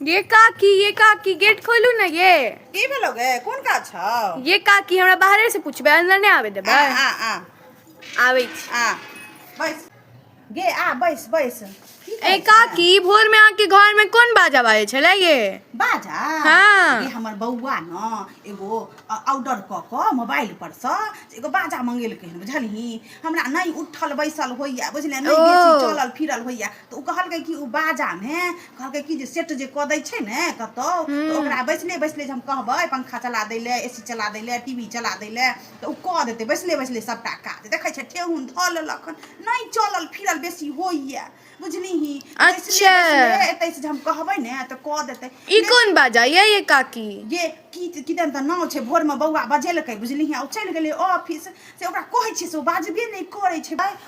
ये काकी ये काकी गेट खोलू ना ये की भेलो गे कोन काज छौ ये काकी हमरा बाहरे से पूछबे अंदर नहीं आवे आ देबे आ आ आवे छी। आ बैस गे आ बैस बैस की ए करै छे? काकी भोर में आके घर में कोन बाजा बाजे छले ये बाजा हाँ। गे हमर बौआ न एगो ऑर्डर क क मोबाइल पर स एगो बाजा मंगेलकै हन बुझलही हमरा नहीं उठल बैसल होइया बुझले नहीं ओ। बेसी चलल फिरल होइया त उ कहलकै कि उ बाजा में कहलकै कि जे सेट जे कऽ दै छै ने कतहु तऽ ओकरा बैसले बैसले जे हम कहबै पंखा चला दै लए ए सी चला दै लए टी वी चला दै लए तऽ ओ कऽ देतै बैसले बैसले सभटा काज देखै छै ठेहुन धऽ लेलक हन नहि चलल फिरल बेसी होइए बुझलिही अच्छा। एतै से जे हम कहबै ने तऽ कऽ देतै ई कोन बाजा ये ये काकी ये की किदन तऽ नाव छै भोरमे बौआ बजेलकै बुझलिही आ ओ चलि गेलै ऑफिस से ओकरा कहै छियै से ओ बाजबे नहि करै छै भाय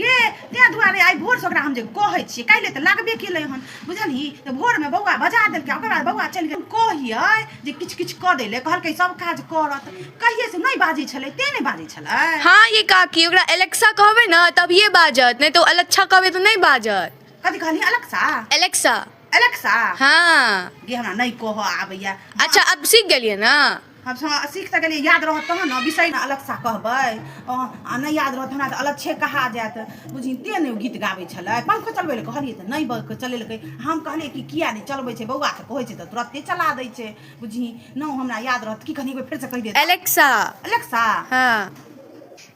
गे तै दुआरे आइ भोरसँ ओकरा हम जे कहै छियै काल्हि तऽ लागबे केलै हन बुझलही तऽ भोरमे बौआ बजा देलकै ओकर बाद बौआ चलि गेल कहियै जे किछु किछु कऽ दै लए कहलकै सब काज करत कहियै से नहि बाजै छलै ते नहि बाजै छलै हाँ ये काकी ओकरा एलेक्सा कहबै ने तभिए बाजत नहि तऽ ओ अलच्छा कहबै तऽ नहि बाजत कथी कहली अलक्सा एलेक्सा अलक्सा हाँ गे हमरा नहि कहऽ आबैया अच्छा अब सीख गेलियै ने हम हाँ सीख तऽ गेलियै याद रहत तहन ने बिसरि ने अलग सा कहबै आ नहि याद रहत हमरा तऽ अलग छे कहा जायत बुझी ते नहि गीत गाबै छलै पंखो चलबै लए कहलियै तऽ नहि बक चलेलकै हम कहलियै कि किया नहि चलबै छै बौआ तऽ कहै छै तऽ तुरते चला दै छै बुझी नहि हमरा याद रहत की कहलियै एक बेर फेरसँ कहि देत एलेक्सा अलेक्सा हँ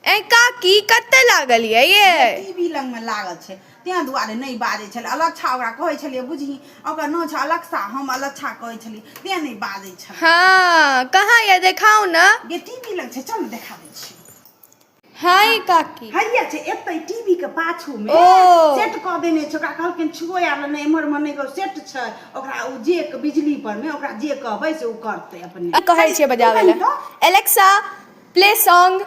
ए काकी कतऽ लागल ये ये टीवी लग में लागल छै तेँ दुआरे नहि बाजै छलै। अलच्छा ओकरा कहै छलै। बुझहीं, ओकर नाओं छह अलक्सा। हम अलच्छा कहै छलिऐ। तेँ नहि बाजै छलै। हँ, कहाँ यऽ? देखाउ ने। गे, टीभी लग छै। चल ने, देखा दै छिऔ। हँइ काकी। हैए छै, एतहि टीभी के पाछू मे। ओ। सेट कऽ देने छै। ओकरा कहलखिन छुअए आर ले नहि, एम्हर-ओम्हर नहि करु। सेट छै। ओकरा ओ जे बिजली पर मे ओकरा जे कहबै से ओ करतै अपने। की कहै छिऐ बजाबै ले? तू कहि तँ। Alexa, play song.